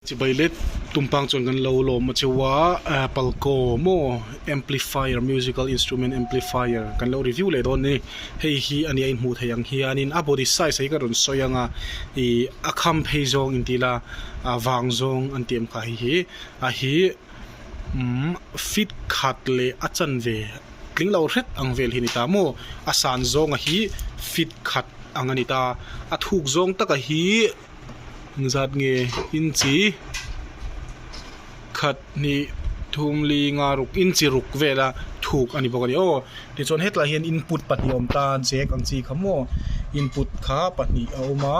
Chibai let tumpang chuan kan lo lawm a cheu a, palco maw amplifier musical instrument amplifier kan lo review leh dawn a ni. Hei hi a nih a inhmuh theih ang hianin a body size hi ka rawn sawi anga ih a kham phei zawng in tih la a vang zawng an tih ang kha hei hi a hi umm fit khat leh a chanve tling lo hret ang vel hi a ni ta maw a san zawnga hi fit khat ang a ni ta a thuk zawng taka hi-- Zat nge in chi khat hnih thum li nga ruk in chi ruk vela thuk a ni bawk a ni. Aw tichuan hetlai hian input pahnih a awm ta jack ang chi kha maw input kha pahnih a awm a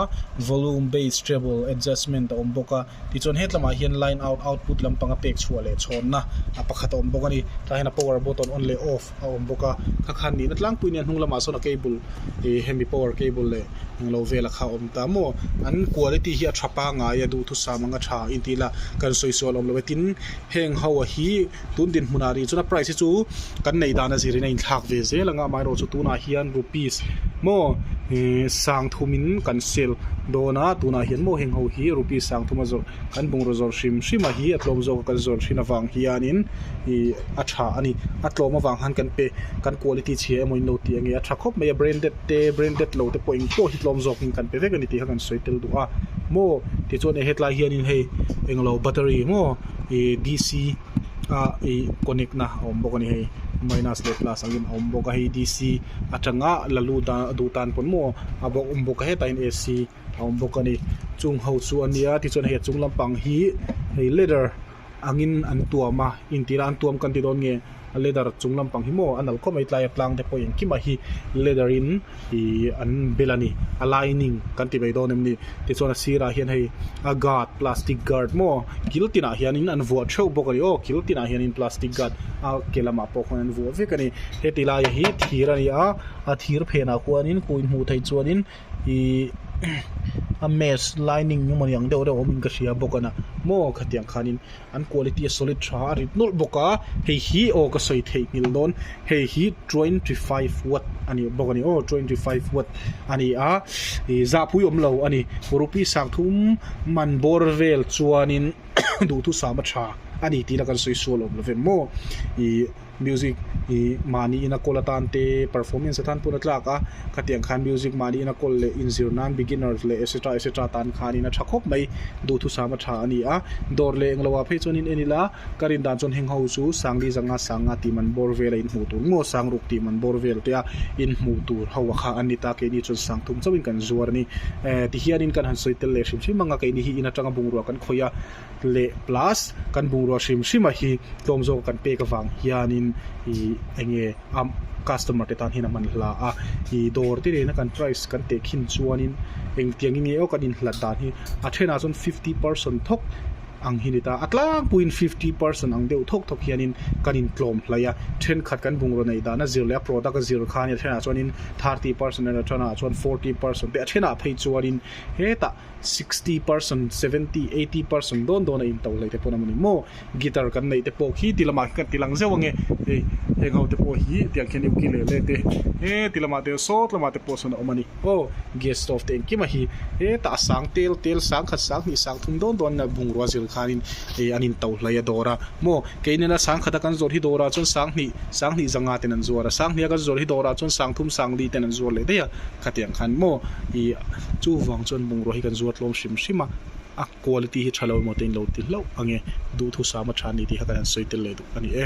volume bass treble adjustment a awm bawk a tichuan he tlamah hian line out output lampanga pek chhuah leh chhawnna a pakhat a awm bawk a ni tlaiah hian a power button on leh off-- a awm bawk a kha khan nihna tlangpui nen hnung lamah sawn a cable ihh hemi power cable leh englo vela kha a awm ta maw an quality hi a tha pangai a duhthusam anga tha a intih ila kan sawi sual awm lova tin heng ho a hi tun dinhmunah rih chuna price hi chu kan nei dan azir in a inthlak ve zel anga amaherawh chu tunah hian rupees maw ihh sangthumin kan sell dawn a tunah hian maw heng ho hi rupees sangthuma zawrh-- kan bungraw zawrh hrim hrima hi a tlawm zawk a kan zawrh hrin avang hianin ih a tha a ni a tlawm avang han kan pe kan quality chhia emaw in lo tih ange a tha khawp mai a branded te branded lo te pawhin pawh hi tlawm zawk in kan pe vek a ni tih kha kan sawi tel duh a maw tichuan eh hetlai hianin hei eng lo battery maw ih DC a ih connect na a awm bawk a ni hei minus leh plus angin a awm bawk a hei DC atanga la lut a duh tan pawh maw a awm bawk a hetah hian AC -- a awm bawk a ni chung ho chu a nia tichuan hei a chung lampang hi hei leather angin an tuam a intihna an tuam kan ti dawn nge a leather chung lampang hi maw a nalh khawp mai tlai a tlâng te pawh engkim ah hi leather in ihh an bel a ni a lining kan ti mai dawn em ni tichuan a sirah hian hei a guard plastic guard maw kil tinah hianin an vuah theuh bawk a ni aw kil tinah hianin plastic guard a ke lamah pawh khawn an vuah vek a ni heti laia hi thir a ni a a thir phenah khuanin kuih hmuh theih chuanin-- ih a match lining emaw ni ang deuh deuh awmin ka hria bawk a na maw ka tiang khanin an quality a solid tha a rit nawlh bawk a hei hi aw ka sawi theihnghilh dawn hei hi twenty five watt a ni bawk a ni aw twenty five watt a ni a ih zahpui awm lo a ni rupees sangthum man bawr vel chuanin duhthusam a tha a ni tihna kan sawi sual awm lo ve maw ih. Music ih mahni ina kawl atan te performance a than pawh a tlak a, khatiang khan music mahni ina kawl leh inzir nan beginner leh etc etc atan khan ina tha khawp mai duhthusam a tha a ni a, dawr leh englo ah phei chuan in en ila ka rin dan chuan heng ho chu Sangli zanga sanga tih man bawr vel a in hmuh tur maw Sangruk tih man bawr vel te a in hmuh tur ho a kha an ni ta keini chuan sang thum chauh in kan zuar a ni eh ti hian in kan han sawi tel leh hrim hrim ang a keini hi in atanga bungrua kan khawih a. leh plus kan bungrua hrim hrim a hi tlawm zawk a kan pek avang hianin ih eng nge a customer te tan hian a man hla a ih dawr te nena kan price kan teh khin chuanin engtiang in nge aw kan inhlat dan hi a then ah chuan fifty person thawk ang hi ni ta a tlangpuiin fifty person ang deuh thawk thawk hianin kan in tlawm hlai a thenkhat kan bungrua neih dana zir leh a product a zir khan a then ah chuanin thirty person erawh a then ah chuan forty person te a then ah phei chuanin hetah-- sixty person seventy eighty person dawn dawn a in to hlei te pawn a mawni maw guitar kan neih te pawh khi ti lamah khi ka ti lang zeuh ange hei heng ho te pawh hi tiang khian ukulele te he ti lamah te sawt lamah te pawh sawn a awm a ni aw gas stove te engkim a hi he tah a sang tel tel sang khat sang hnih sang thum dawn dawn a bungrua zir khanin hei an in to hlei a dawr a maw kei nena sang khata kan zawrh hi dawr ah chuan sang hnih sang hnih zanga ten an zuar a sang hnih a kan zawrh hi dawr ah chuan sang thum sang li ten an zuar leh daih a. khati ang khan maw ih chuvang chuan bungrua hi kan zuar tlawm hrim hrim a a quality hi tha lo emaw tiin lo ti hlauh ange duhthusam a tha ani tih kha kan han sawi tel leh duh ani e.